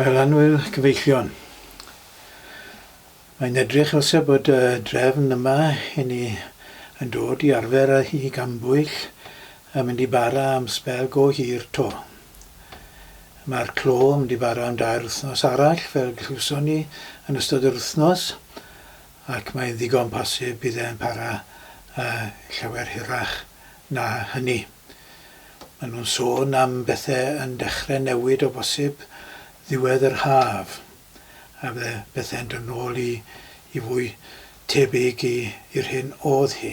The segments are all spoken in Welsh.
Ailanwyl Cyfeillion. Mae'n edrych fel se bod y drefn yma i ni yn dod i arfer a i gambwyll yn mynd i bara am sbel go hir 'to. Mae'r clo yn mynd i bara am dair wythnos arall fel glywson ni yn ystod yr wythnos. Ac mae'n ddigon posib bydd e'n para llawer hirach na hynny. Maen nhw'n sôn am bethau yn dechrau newid o bosib ddiwedd yr haf, a bydde pethau'n dod nôl i i fwy tebyg i i'r hyn o'dd hi,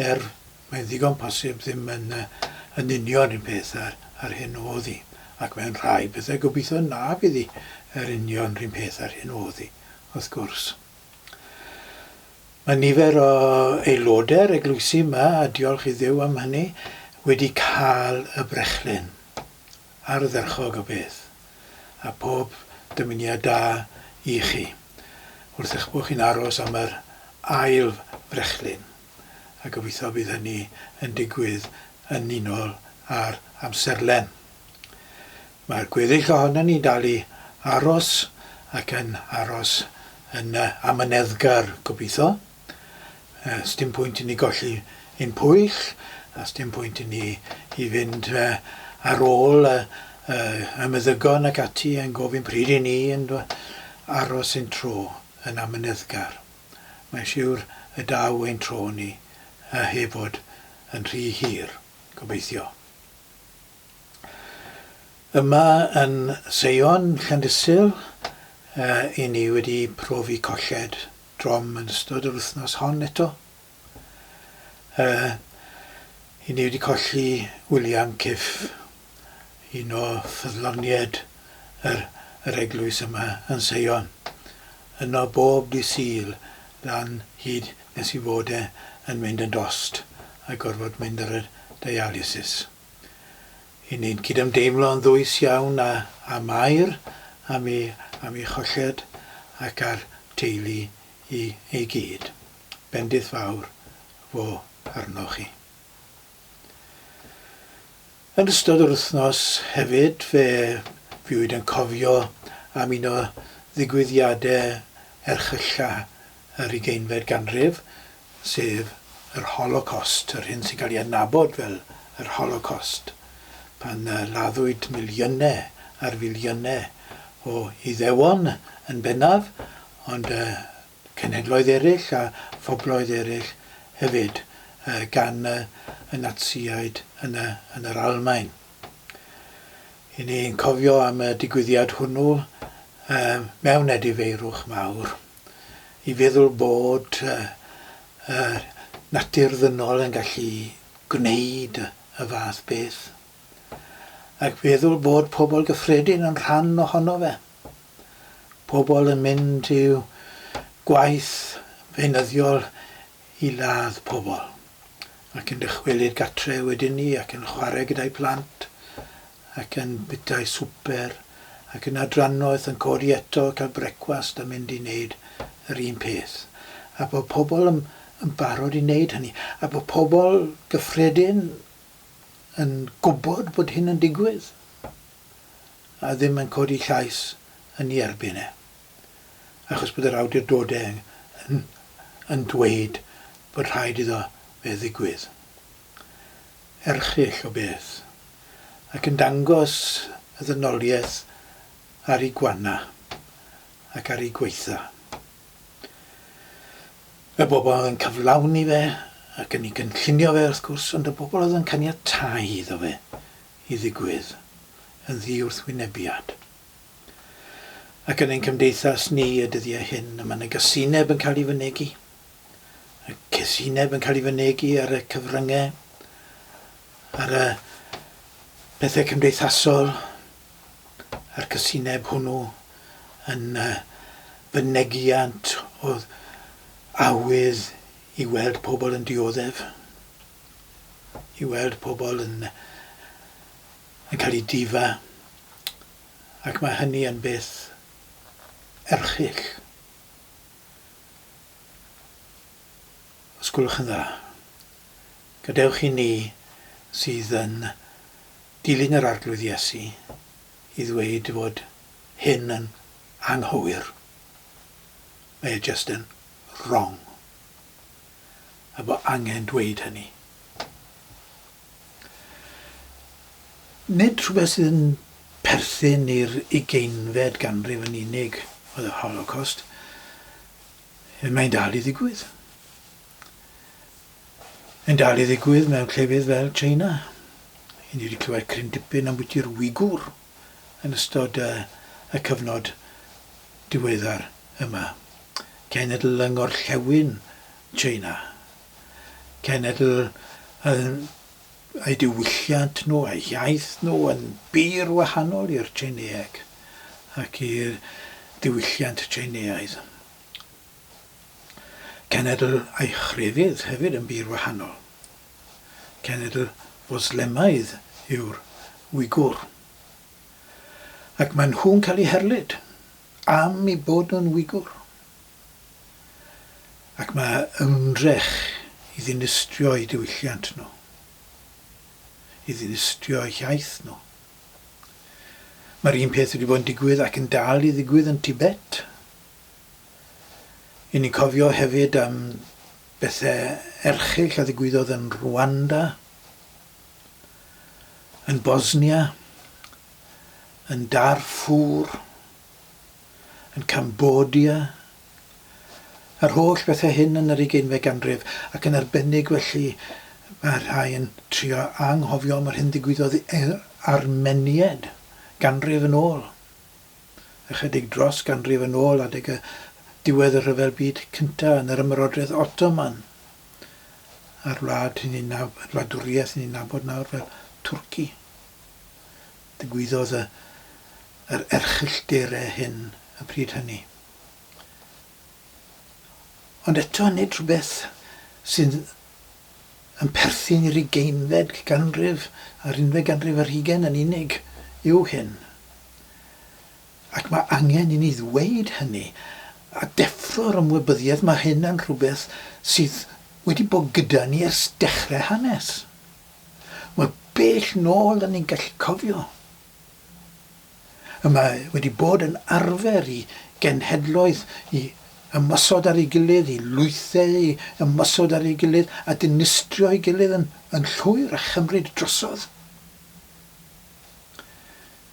er mae'n ddigon posib ddim yn yn union un peth â'r â'r hyn o'dd hi, ac mae'n rhai pethau gobeithio na bydd hi yr union run peth â'r hyn o'dd hi. wrth gwrs. Mae nifer o aelodau'r eglwysi yma, a diolch i Dduw am hynny, wedi cael y brechlyn, ardderchog o beth, a pob dymuniad da i chi, wrth eich bod chi'n aros am yr ail frechlyn, a gobeithio bydd hynny yn digwydd yn unol â'r amserlen. Mae'r gweddill ohonon ni'n dal i aros ac yn aros yn yy amyneddgar, gobeitho. Yy, sdim pwynt i ni golli ein pwyll, a sdim pwynt i ni i fynd yy ar ôl y y y meddygon ac ati yn gofyn pryd i ni yn do- aros ein tro yn amyneddgar. Mae'n siwr y daw ein tro ni yy heb fod yn rhy hir, gobeithio. Yma yn Seion, Llandysul, i ni wedi profi colled drom yn ystod yr wythnos hon eto. I ni wedi colli William Cyff, un o ffyddloniaid yr eglwys yma yn Seion. Yno bob dydd Sul lan hyd nes i fod e yn mynd yn dost a gorfod mynd ar y dialysis. 'y ni'n cydymdeimlo yn ddwys iawn â â Mair am ei am ei cholled ac â'r teulu i i gyd. Bendith fawr fo arnoch chi. Yn ystod yr wythnos hefyd fe fuwyd yn cofio am un o ddigwyddiade erchylla yr ugeinfed ganrif, sef yr Holocost, yr hyn sy'n cael ei adnabod fel yr Holocost, pan laddwyd miliynau ar filiynau o Iddewon yn bennaf, ond cenhedloedd eraill a phobloedd eraill hefyd, gan y Natsïaid yn yr Almaen. Y'n ni'n cofio am y digwyddiad hwnnw mewn edifeirwch mawr. i feddwl bod y natur ddynol yn gallu gwneud y fath beth, ac feddwl bod pobl gyffredin yn rhan ohono fe. Pobl yn mynd i'w gwaith feunyddiol i ladd pobl, ac yn dychwelyd gartre wedyn 'ny ac yn chwarae gyda'i plant, ac yn bita'i swper, ac yna drannoeth yn codi eto, cael brecwast a mynd i wneud yr un peth. A bod pobl yn yn barod i wneud hynny, a bod pobl gyffredin yn gwybod bod hyn yn digwydd, a ddim yn codi llais yn ei erbyn e. achos bod yr awdurdodau yn yn dweud bod rhaid iddo fe ddigwydd. Erchyll o beth. Ac yn dangos y ddynoliaeth ar ei gwana ac ar ei gwaetha. Y bobl oedd yn cyflawni fe ac yn ei gynllunio fe wrth gwrs, ond y bobl oedd yn caniatáu iddo fe i ddigwydd yn ddi-wrthwynebiad. Ac yn ein cymdeithas ni y dyddiau hyn, y mae na gasineb yn cael ei fynegi, y casineb yn cael ei fynegi ar y cyfryngau, ar y pethau cymdeithasol, a'r casineb hwnnw yn fynegiant o awydd i weld pobl yn dioddef, i weld pobl yn, yn cael ei difa, ac mae hynny yn beth erchyll, os gwelwch yn dda. Gadewch i ni sydd yn dilyn yr Arglwydd Iesu i ddweud fod hyn yn anghywir. Mae e jyst yn wrong. A bod angen dweud hynny. Nid rhywbeth sydd yn perthyn i'r ugeinfed ganrif yn unig oedd yr Holocost. Mae'n dal i ddigwydd. Mae'n dal i ddigwydd mewn llefydd fel China. Ni wedi clywed cryn dipyn ambwyti'r Wigwr yn ystod y, y cyfnod diweddar yma. Cenedl yng Ngorllewin China. cenedl yn eu diwylliant nhw a'u hiaith nhw yn bur wahanol i'r Tsieineeg ac i'r diwylliant Tsieineaidd. Cenedl a'u chrefydd hefyd yn bur wahanol. Cenedl Fwslemaidd yw'r Wigwr. Ac maen nhw'n cael eu herlid am eu bod nhw'n Wigwr. ac mae ymdrech i ddinistrio'u diwylliant nhw, i ddinistrio'u hiaith nhw. Mae'r un peth wedi bod yn digwydd ac yn dal i ddigwydd yn Tibet. I ni'n cofio hefyd am bethau erchyll a ddigwyddodd yn Rwanda, yn Bosnia, yn Darfur, yn Cambodia, yr holl bethau hyn yn yr ugeinfed ganrif, ac yn arbennig felly mae rhai yn trio anghofio am yr hyn ddigwyddodd i'r Armeniaid ganrif yn ôl, ychydig dros ganrif yn ôl adeg y diwedd y Rhyfel Byd Cyntaf yn yr Ymerodraeth Ottoman, a'r wlad sy'n ei nab- wladwriaeth sy'n ei nabod nawr fel Twrci. Digwyddodd y yr erchyll dere hyn y pryd hynny. Ond eto nid rhywbeth sydd yn perthyn i'r ugeinfed ganrif a'r unfed ganrif ar hugain yn unig yw hyn. Ac mae angen i ni ddweud hynny, a deffro'r ymwybyddiaeth mae hyn yn rhywbeth sydd wedi bod gyda ni ers dechrau hanes. Mor bell nôl da ni'n gallu cofio, y mae wedi bod yn arfer i genhedloedd i ymosod ar ei gilydd, i lwythau i ymosod ar ei gilydd, a dinistrio'i gilydd yn llwyr a chymryd drosodd.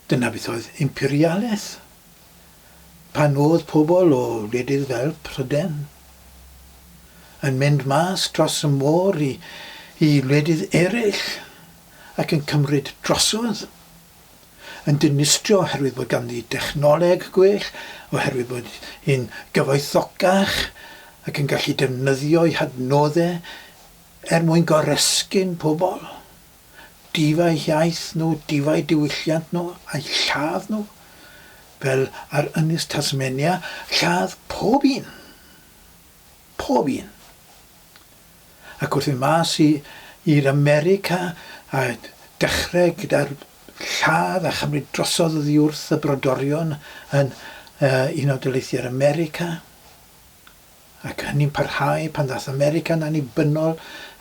Dyna beth oedd imperialaeth. Pan oedd pobl o wledydd fel Prydain yn mynd mas dros y môr i i wledydd eraill ac yn cymryd drosodd, yn dinistrio oherwydd bod ganddi dechnoleg gwell, oherwydd bod hi'n gyfoethocach ac yn gallu defnyddio'i hadnoddau er mwyn goresgyn pobl. defaid iaith nhw, defaid diwylliant nhw a'u lladd nhw, fel ar Ynys Tasmania, lladd pob un. Pob un. Ac wrth fynd mas i, i'r America a dechrau gyda'r lladd a chymryd drosodd oddi wrth y brodorion yn uh, Unol Daleithiau'r America, ac hynny'n parhau pan ddaeth America'n annibynnol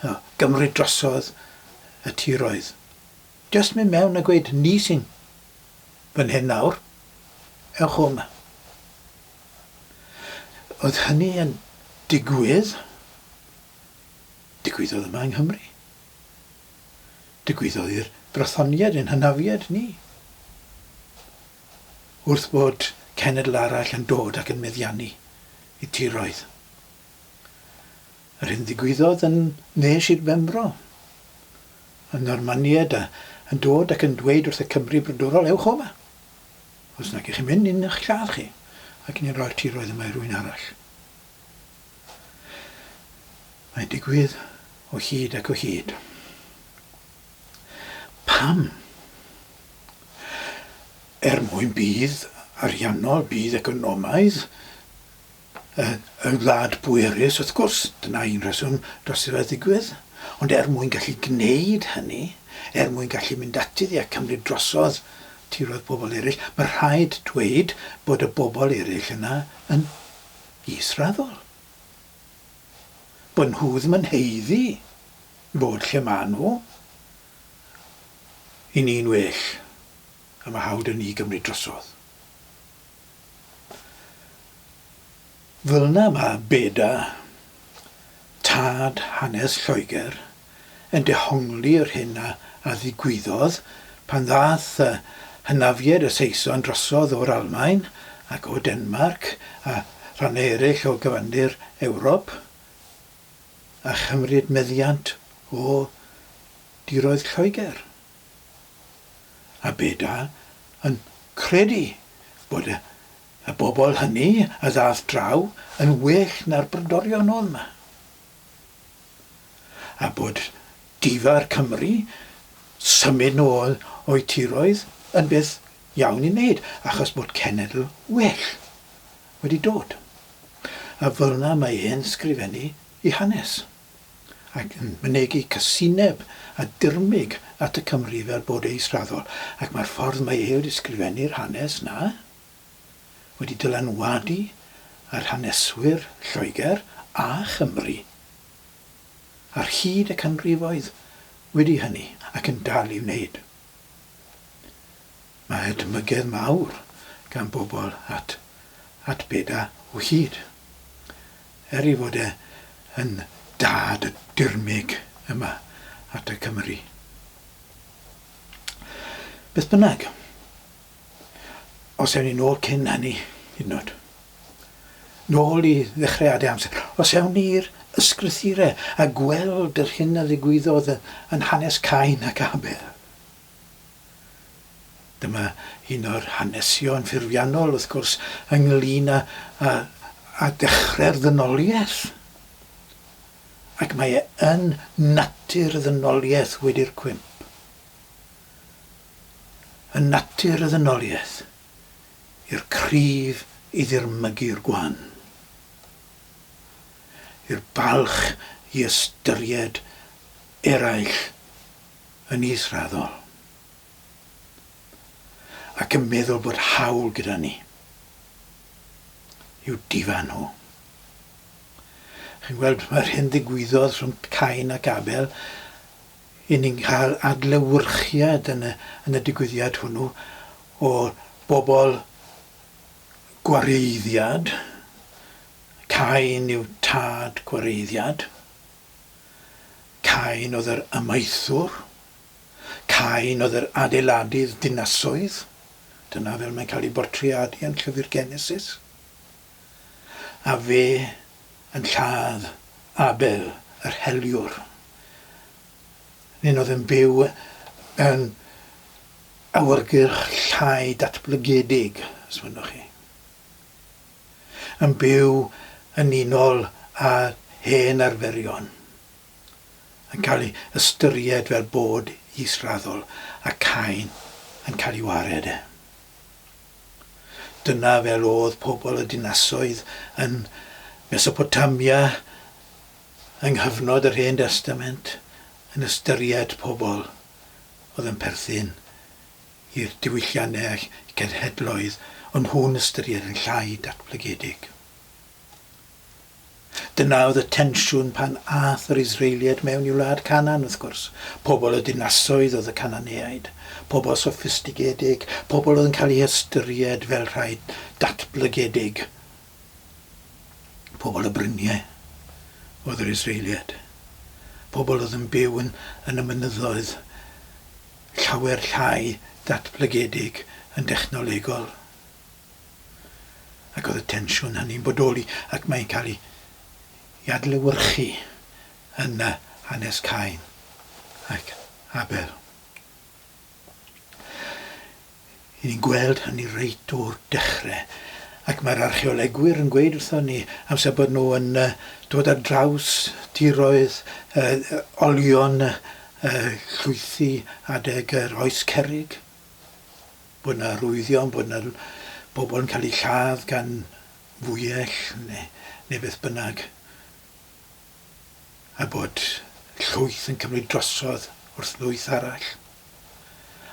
a gymryd drosodd y tiroedd. Jyst mynd mewn a gweud ni sy'n fan hyn nawr, ewch o 'ma. Oedd hynny yn digwydd, digwyddodd yma yng Nghymru. Digwyddodd i'r Brythoniaid ein hynafiaid ni. wrth fod cenedl arall yn dod ac yn meddiannu y tiroedd. Yr hyn ddigwyddodd yn nes i'r Benfro, y Normaniaid a yn dod ac yn dweud wrth y Cymry brodorol, ewch o yma! Os nag ych chi'n mynd, ni'n eich lladd chi, ac ni'n rhoi'r tiroedd yma i rwy'n arall. Mae'n digwydd o hyd ac o hyd. Pam? Er mwyn budd ariannol, budd economaidd y y wlad bwerus, wrth gwrs, dyna un rheswm dros iddo fe ddigwydd, ond er mwyn gallu gwneud hynny, er mwyn gallu mynd ati iddi a cymryd drosodd tiroedd pobl eraill, mae rhaid dweud bod y bobl eraill yna yn israddol, bod nhw ddim yn haeddu. Bod lle maen nhw i ni'n well a mae hawl 'da ni gymryd drosodd. Fel yna mae Beda, tad hanes Lloegr, yn dehongli yr hyn a ddigwyddodd pan ddaeth y hynafiaid y Saeson drosodd o'r Almaen ac o Denmarc a rhannau eraill o gyfandir Ewrop, a chymryd meddiant o diroedd Lloegr, a beda yn credu bod y y bobl hynny a ddath draw yn well na'r Brydorion oedd 'ma, a bod difa'r Cymry symud nôl o'u tiroedd yn beth iawn i wneud achos bod cenedl well. wedi dod. A fel'na mae e'n sgrifennu i hanes, ac yn mynegi casineb a dirmyg at y Cymry fel bod e israddol, ac mae'r ffordd mae e wedi sgrifennu'r hanes 'na wedi dylanwadu ar haneswyr Lloegr a Chymru ar hyd y canrifoedd wedi hynny, ac yn dal i wneud. Mae hedmygedd mawr gan bobl at at beda o hyd. Er ei fod e yn dad y dirmyg yma at y Cymry. Beth bynnag, os ewn ni nôl cyn hynny, hyd yn oed, nôl i ddechreuadau amser, os ewn ni i'r ysgrythurau a gweld yr hyn a ddigwyddodd yn hanes Cain ac Abel, Dyma un o'r hanesion ffurfiannol, wrth gwrs, ynglŷn â, â, â dechrau'r ddynoliaeth. Ac mae e yn natur y ddynoliaeth wedi'r cwymp. Yn natur y ddynoliaeth, i'r cryf i ddirmygu'r gwan. I'r balch i ystyried eraill yn israddol ac yn meddwl bod hawl gyda ni i'w difa nhw. Chi'n gweld, mae'r hyn ddigwyddodd rhwng Cain ac Abel, i ni'n cael adlewyrchiad yn y, yn y digwyddiad hwnnw o bobl gwareiddiad, Cain yw tad gwareiddiad, Cain oedd yr amaethwr. Cain oedd yr adeiladydd dinasoedd. Dyna fel mae'n cael ei bortreadu yn llyfr Genesis. A fe yn lladd Abel yr heliwr. Nin oedd yn byw yn awyrgylch llai datblygedig, os mynnwch chi. yn byw yn unol â hen arferion, yn cael ei ystyried fel bod israddol a Cain yn cael ei wared. Dyna fel oedd pobl y dinasoedd yn Mesopotamia yng nghyfnod yr Hen Destament yn ystyried pobl oedd yn perthyn i'r diwylliannau cenhedloedd o'n nhw'n ystyried yn llai datblygedig. Dyna oedd y tensiwn pan aeth yr Israeliaid mewn i wlad Canan, wrth gwrs. Pobl y dinasoedd oedd y Cananeaid, pobl soffistigedig, pobl oedd yn cael eu hystyried fel rhai datblygedig. Pobl y bryniau oedd yr Israeliaid, pobl oedd yn byw yn, yn y mynyddoedd, llawer llai datblygedig yn dechnolegol, ac oedd y tensiwn hynny'n bodoli ac mae'n cael ei i adlewyrchu yn y hanes Cain ac Abel. Ŷn ni'n gweld hynny reit o'r dechre ac mae'r archeolegwyr yn gweud wrthon ni amser bod nhw yn dod ar draws tiroedd olion llwythi adeg yr oes cerrig bod yna arwyddion bod yna bobl yn cael eu lladd gan fwyell neu beth bynnag. a bod llwyth yn cymryd drosodd wrth lwyth arall,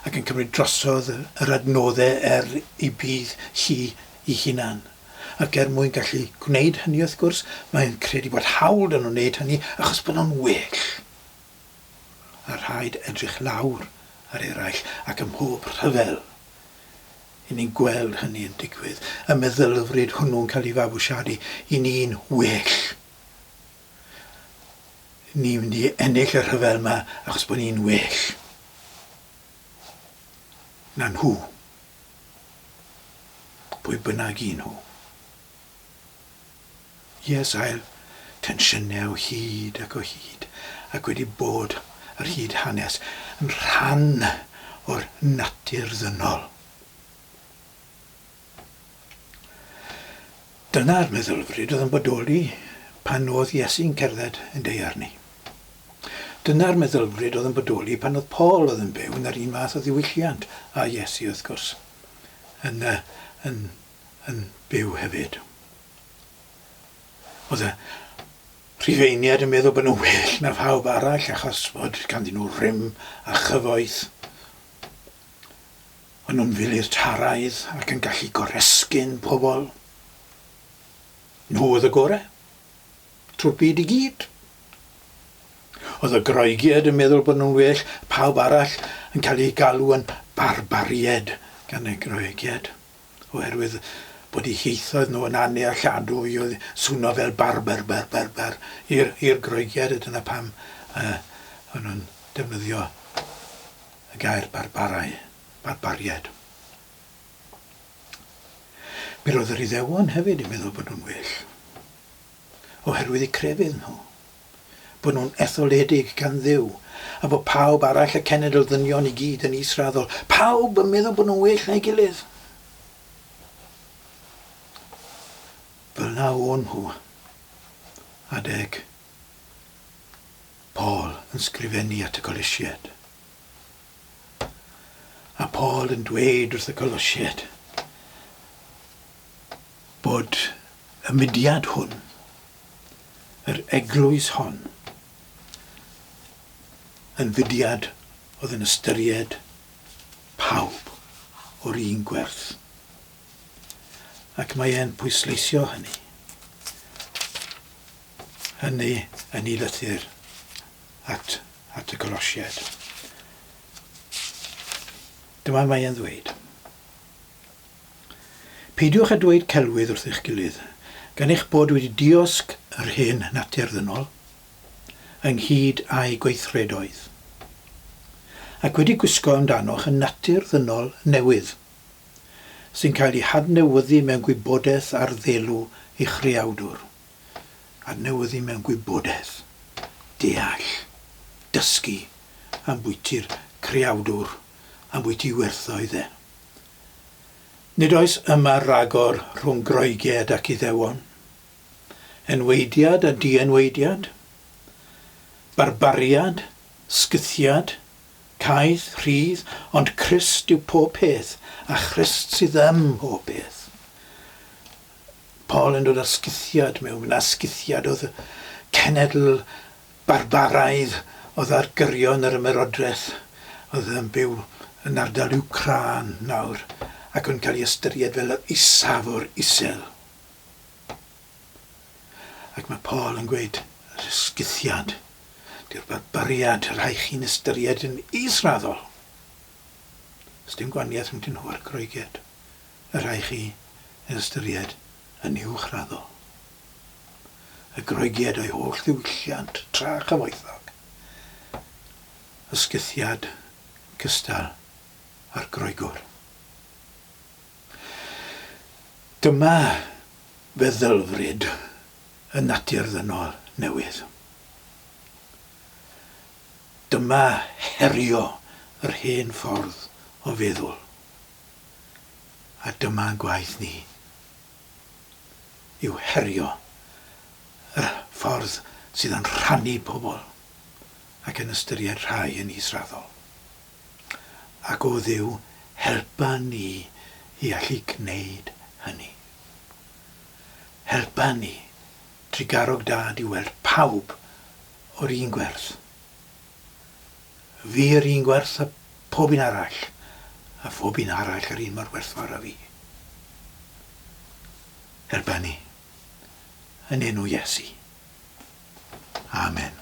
ac yn cymryd drosodd yr adnoddau er ei budd hi ei hunan. Ac er mwyn gallu gwneud hynny, wrth gwrs, mae e'n credu bod hawl 'da nhw wneud hynny achos bod nhw'n well. A rhaid edrych lawr ar eraill, ac ym mhob rhyfel, 'yn ni'n gweld hynny yn digwydd, y meddylfryd hwnnw'n cael ei fabwysiadu i ni'n well. Ni'n mynd i ennill y rhyfel yma achos bod ni'n well na nhw. Pwy bynnag i nhw. Yes, ail tensiynau o hyd ac o hyd ac wedi bod ar hyd hanes yn rhan o'r natur ddynol. Dyna'r meddylfryd oedd yn bodoli pan oedd Iesu'n cerdded yn deuar ni. Dyna'r meddylfryd oedd yn bodoli pan oedd Paul oedd yn byw yn yr un fath o ddiwylliant â Iesu wrth gwrs, yn, uh, yn, yn byw hefyd. Oedd y Rhufeiniad yn meddwl bod nhw'n well na phawb arall achos bod ganddyn nhw rym a chyfoeth. Maen nhw'n filitaraidd ac yn gallu goresgyn pobl. Nhw oedd y gorau. Trwy'r byd i gyd. Oedd y Groegiaid yn meddwl bod nhw'n well na phawb arall yn cael eu galw yn barbariaid gan y Groegiaid oherwydd bod eu hieithoedd nhw yn annealladwy oedd swno fel barber ber ber ber i'r i'r Groegiaid a dyna pam yy o'n nhw'n defnyddio Y gair barbarau, barbaried. Mi roedd yr Iddewon hefyd yn meddwl bod nhw'n well, oherwydd y crefydd nhw, bod nhw'n etholedig gan Dduw, a bod pawb arall, y cenedl ddynion i gyd yn israddol, pawb yn meddwl bod nhw'n well na'i gilydd. Fel na o'n nhw, adeg Paul yn sgrifennu at y Colosied. A Paul yn dweud wrth y Colosied bod y mudiad hwn, yr eglwys hon, yn fudiad oedd yn ystyried pawb o'r un gwerth. Ac mae e'n pwysleisio hynny. hynny yn ei lythyr at at y Colosiaid. Dyma mae e'n ddweud. Peidiwch â dweud celwydd wrth eich gilydd, gan eich bod wedi diosg yr hen natur ddynol, ynghyd â'i gweithredoedd, ac wedi gwisgo amdanoch y natur ddynol newydd, sy'n cael ei hadnewyddu mewn gwybodaeth ar ddelw ei Chreawdwr. adnewyddu mewn gwybodaeth, deall, dysgu, ambwyti'r creawdwr, ambwyty werthoedd e. Nid oes yma ragor rhwng Groeged ac Iddewon, enwaediad a dienwaediad, barbariad, sgythiad, caeth, rhydd, ond Crist yw pob peth, a Christ sydd ym mhob peth. Paul yn dod â sgithiad mewn, a sgithiad oedd y cenedl barbaraidd oedd ar gyrion yr ymerodraeth, oedd yn byw yn ardal Wcrân nawr, ac oedd yn cael ei ystyried fel yr isaf o'r isel. Ac mae Paul yn gweud, yr sgithiad, diw'r barbariad, rhaid chi'n ystyried yn israddol. Ys dim gwaniaeth rhwng nhw a'r Groeged. y rhaid chi ei ystyried yn uwchraddol. Y Groegiad a'i holl ddiwylliant tra chyfoethog, y sgythiad yn gystal â'r Groegwr. Dyma feddylfryd y natur ddynol newydd. Dyma herio yr hen ffordd o feddwl. a dyma gwaith ni yw herio y ffordd sydd yn rhannu pobl ac yn ystyried rhai yn israddol, ac o Dduw helpa ni i allu gwneud hynny. Helpa ni, drugarog Dad, i weld pawb o'r un gwerth. Fi yr un gwerth a phob un arall, a phob un arall yr un mor werthfawr â fi. Er bynnu. Yn enw Iesu. Amen.